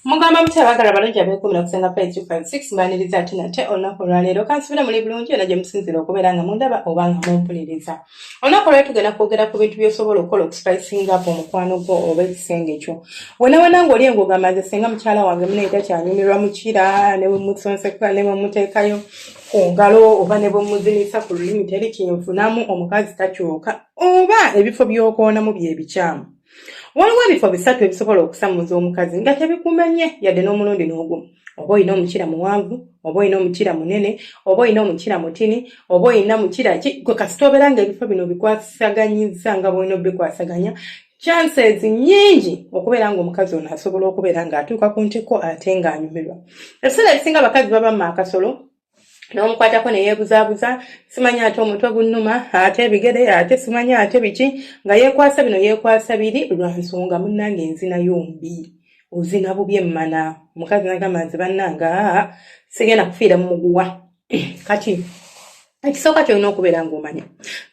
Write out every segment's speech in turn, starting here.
mugamba mutya abagala balungi abekumira kusenga pa 356 mbaniriza ati nate olunaku olwaleero kansubira muli bulungi yona gye musinzira okubeera nga mundaba oba nga mumpuliriza olunaku olwali tugenda kwogera ku bintu byosobola okukola okusipayisinga apo omukwano gwo oba ekisenge kyo wenawena ngaoli engogamba nze singa mukyala wange mune takyanyumirwa mukira newemusonseka newemuteekayo ku ngalo oba nebwemuzinisa ku lulimi teri kyenfunamu omukazi takyuka oba ebifo byokonamu byebikyamu waliwo ebifo bisatu ebisobola okusamuza omukazi nga tebikumanye yadde n'omulundi n'ogumu oba olina omukira muwanvu oba olina omukira munene oba olina omukira mutini oba olina mukira ki gwe kasita obeera nga ebifo bino bikwasaganyizza nga bwolina obikwasaganya chances nyingi okubeera nga omukazi ono asobola okubeera nga atuuka ku ntiko ate nga anyumirwa ebiseera ebisinga abakazi baba mu akasolo n'omukwatako neyeebuzaabuza simanyi ate omutwe gunnuma ate ebigere ate simanyi ate biki nga yeekwasa bino yeekwasa biri lwa nsonga munnange enzinayo mbi ozina bubi emmana omukazi nagamba nze bannanga sigenda kufiira mu muguwa kati ekisooka kyolina okubeera ng'omanya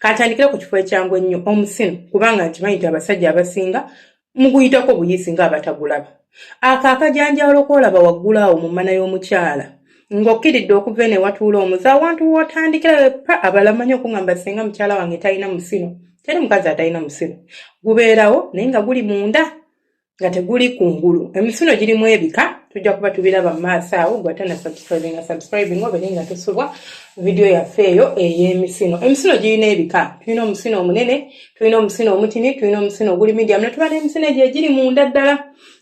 kantandikire ku kifo ekyangu ennyo omusino kubanga nkimanyi nti abasajja abasinga muguyitako buyisi ng'abatagulaba ako akajanjaalo koolaba waggulu awo mu mmana y'omukyala ng'okkiridde okuva eno ewatuula omuze awantu w'otandikira wepa abalamanyi okuŋamba singa mukyala wange talina musino teri mukazi atalina musino gubeerawo naye nga guli munda nga teguli ku ngulu emisino girimu ebika tujja kuba tubiraba mu maaso awo gwatana subscribinga subscribing obere nga tusubwa vidiyo yaffe eyo ey'emisino emisino girina ebika tulina omusino omunene tulina omusino omutini tulina omusino oguli medium ne tuba n'emisino egyo egiri munda ddala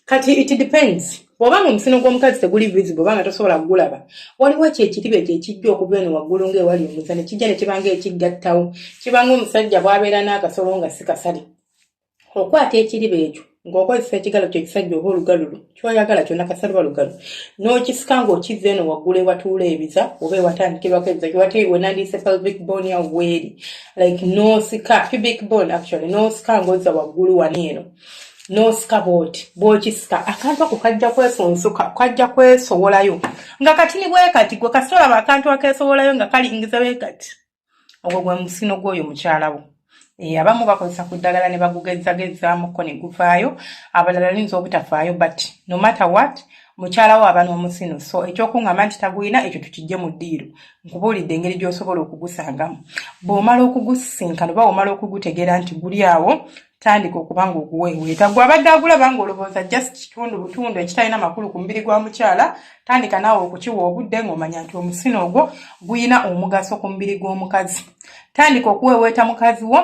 kati it depends bw'oba nga omusino gw'omukazi teguli visible oba nga tosobola kugulaba waliwo ekyo ekiriba ekyo ekijja okuva eno waggulu ng'ewali omuza ne kijja ne kiba nga ekiggattawo kiba nga omusajja bw'abeera n'akasolo nga si kasale okwata ekiriba ekyo ng'okozesa ekigalo kyo ekisajja oba olugalu lwo kyoyagala kyona kasalwa lugalu n'okisika ng'okizza eno waggulu ewatuula ebiza oba ewatandikirwako ebiza kiwate wenandiise pelvic bone ya weeri like n'osika pubic bone actually n'osika ng'ozza waggulu wani eno n'osika bwoti bw'okisika akantu ako kajja kwesonsoka kajja kwesowolayo nga kati ni bwe kati gwe kasitolaba akantu akeesowolayo nga kalingiza bwe kati ogwo gwe musino gw'oyo mukyalawo eh, abamu bakozesa ku ddagala ne bagugezzagezzaamuko ne guvaayo abalala linza obutafaayo but no matter what mukyalawo aba n'omusino so ekyokuŋŋamba nti tagulina ekyo tukijje mu ddiiro nkubuulidde engeri gy'osobola okugusangamu bw'omala okugusisinkana oba omala okugutegeera nti guli awo tandika okuba nga oguweeweeta gwe abadde agulaba nga olowooza just kitundu butundu ekitalina makulu ku mubiri gwa mukyala tandika naawe okukiwa obudde ng'omanya nti omusino ogwo guyina omugaso ku mubiri gw'omukazi tandika okuweeweeta mukazi wo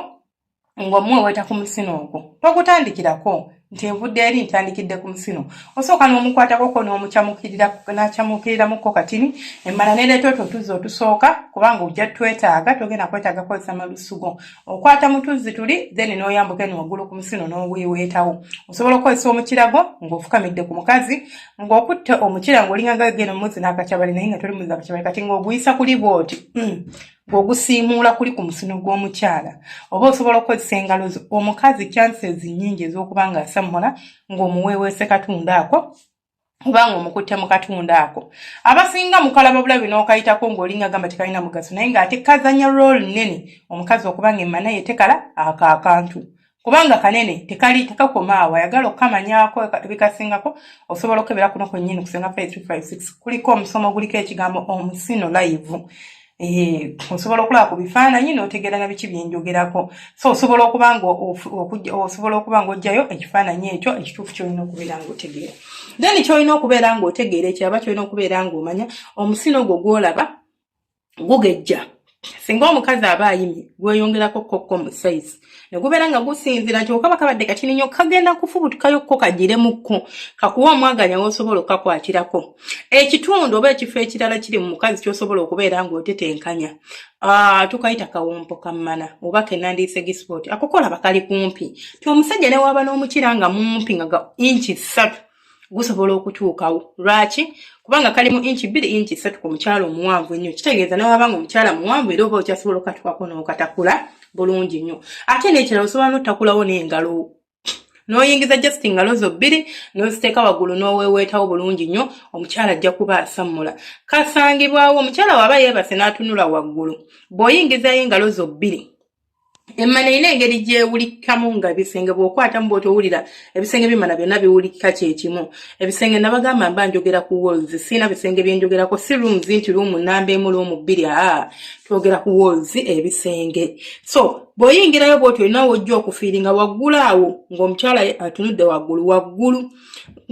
ng'omuweeweeta ku musino ogwo togutandikirako nti envudde eri ntandikidde ku musino osooka n'omukwatakoko n'omucamukiriranacamukirirramukko katini emmala nereeta otwo otuzza otusooka kubanga ojja twetaaga togenda kwetaaga kozesa malusugo okwata mutuzzi tuli then noyambuka eno waggulu ku musino noweweetawo osobola okukozesa omukirago ng'ofukamidde ku mukazi ng'okutte omukira ng'olinganga geno muzi n'akakyabali naye nga toli muzi akakyabali kati ng'oguyisa kuli bwoti hmm. ng'ogusiimuula kuli ku musino gw'omukyala oba osobola okukozesa engalo zo omukazi chances nnyingi ez'okuba ng'asammula ng'omuweeweese katunda ako kubanga omukutte mu katundu ako abasinga mukalaba bulabi n'okayitako ng'olinga gamba tekalina mugaso naye ng'ate kazanya rooli nnene omukazi okuba nga emmana ye tekala ako akantu kubanga kanene tekali tekakoma awo ayagala okukamanyako bikasingako osobola okukebera kuno kwennyini kusenga 5356 kuliko omusomo oguliko ekigambo omusino layivu Eh, osobola okulaba ku bifaananyi n'otegeera na biki byenjogerako so osobola okuba nga osobola okuba ng'ojjayo ekifaananyi ekyo ekituufu kyolina okubeera ng'otegeera then kyolina okubeera ng'otegeera ekiraba kyolina okubeera ng'omanya omusino gwo gwolaba gugejja singa omukazi aba ayimye gweyongerako kokko mu sayizi ne gubeera nga gusinzira nti okaba kabadde katini nnyo kagenda kufubutukayo ko kagiremuko kakuwa omwaganya wosobola okukakwatirako ekitundu oba ekifo ekirala kiri mu mukazi kyosobola okubeera ng'otetenkanya Ah, tukayita kawompo kammana oba kenandiise gisipoti akokola bakali kumpi ti omusajja newaba n'omukira nga mumpi nga inki ssatu gusobola okutuukawo lwaki kubanga kali mu inki bbiri inki ssatu ku mukyala omuwanvu ennyo kitegeeza newaba nga omukyala muwanvu era oba okyasobola okatukwako n'okatakula bulungi nnyo ate n'ekirala osobola n'otakulawo n'engalo n'oyingiza just ngalo zo bbiri n'oziteeka waggulu n'oweeweetawo bulungi nnyo omukyala ajja kuba asammula kasangibwawo omukyala waba yeebase n'atunula waggulu bw'oyingizayo engalo zo bbiri emmana erina engeri gyewulikikamu nga ebisenge bwokwatamu bwotowulira ebisenge byemmana byonna biwulikika kyekimu ebisenge nabagamba mba njogera ku walls siina bisenge byenjogerako si rooms nti room namba emu room bbiri aa twogera ku walls ebisenge so bwoyingirayo bwoti olinawo ojja okufiiri nga waggulu awo ngaomukyala atunudde waggulu waggulu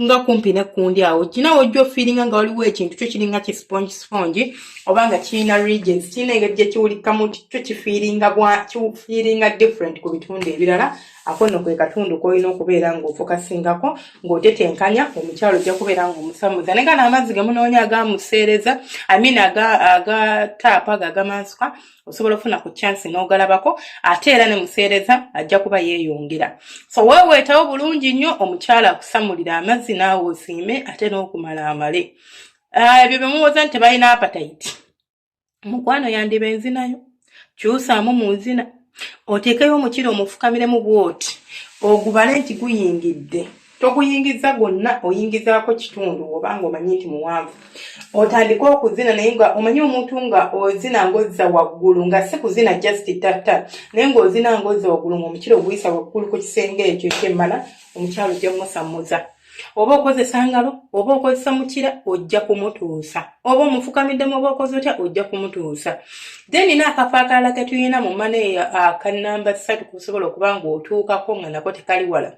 nga kumpi ne kundi awo kina wojjo feelinga nga waliwo ekintu kyo kiringa ki sponge sponge oba nga kirina regions kirina engeri gye kiwulikamu kyo kifiiringa bwa kifiiringa different ku bitundu ebirala ako nno kwe katundu k'olina okubeera ng'ofokasingako ng'otetenkanya omukyalo ojja kubeera ng'omusamuza naye nga n'amazzi ge munoonya agamuseereza i mean agataapa aga agamansuka osobola okufuna ku chance n'ogalabako ate era ne museereza ajja kuba yeeyongera so weeweetawo bulungi nnyo omukyala akusamulira amazzi naawe osiime ate n'okumala amale ah, ebyo bye muwoza nti tebalina apatayiti mukwano yandiba enzinayo kyusaamu mu nzina oteekeyo omukira omufukamiremu bwoti ogubale nti guyingidde toguyingiza gwonna oyingizaako kitundu oba nga omanyi nti muwanvu otandike okuzina naye nga omanyi omuntu nga ozina ngozza waggulu nga si kuzina just tatta naye ngaozina ngozza waggulu ngaomukira oguyisa waggulu ku kisenge ekyo ekyemmala omukyalo ojja musamuza oba okozesa ngalo oba okozesa mukira ojja kumutuusa oba omufukamiddemu oba okoze otya ojja kumutuusa then na akafo akalala ketulina mu maneya akanamba ah, ssatu kusobola okuba ngaotuukako nga nako tekali wala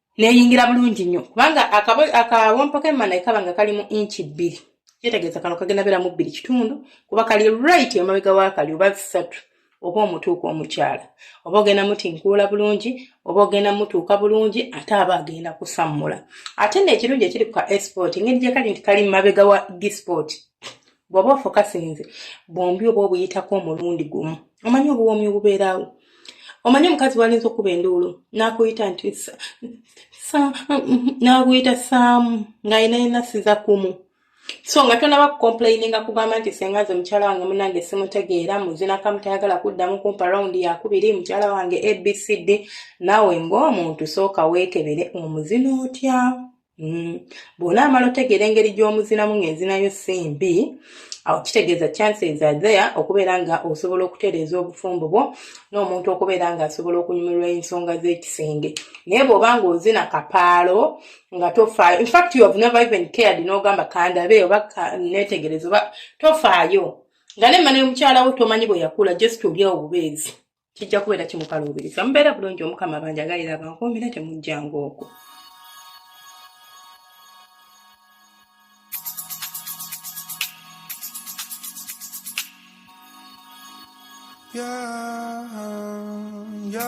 neyingira bulungi nnyo kubanga akawompo k'emmana ekaba nga kali mu inci bbiri kyetegeeza kano kagenda beera mu bbiri kitundu kuba kali right emabega wakali oba ssatu oba omutuuka omukyala oba ogenda mutinkuula bulungi oba ogenda mutuuka bulungi ate aba agenda kusammula ate neekirungi ekiri ku ka esport ngeri gyekali nti kali mabega wa disport bw'oba ofokasinze bwombi oba obuyitako omulundi gumu omanyi obuwoomi obubeeraawo omanyi omukazi walinza okuba enduulu n'akuyita nti n'akuyita saamu ng'alina yenasiza kumu so nga tonaba kukomplaininga kugamba nti senga nze mukyala wange munange simutegeera muzinaka mutayagala kuddamu kumpa rawundi yakubiri mukyala wange abcd naawe ng'omuntu sooka weekebere omuzina otya Mm. bwona amala otegeera engeri gy'omuzinamu ng'enzinayo si mbi awo kitegeeza chances are there okubeera nga osobola okutereeza obufumbo bwo n'omuntu okubeera nga asobola okunyumirwa ensonga z'ekisenge naye bw'oba ng'ozina kapaalo nga tofaayo infact you have never even cared n'ogamba kandabe oba neetegereza oba tofaayo nga ne mmana y'omukyala wo tomanyi bwe yakula just olyawo bubeezi kijja kubeera kimukaluubiriza mubeera bulungi omukama banjagalira abankuumire temujjanga okwo Yeah, yeah.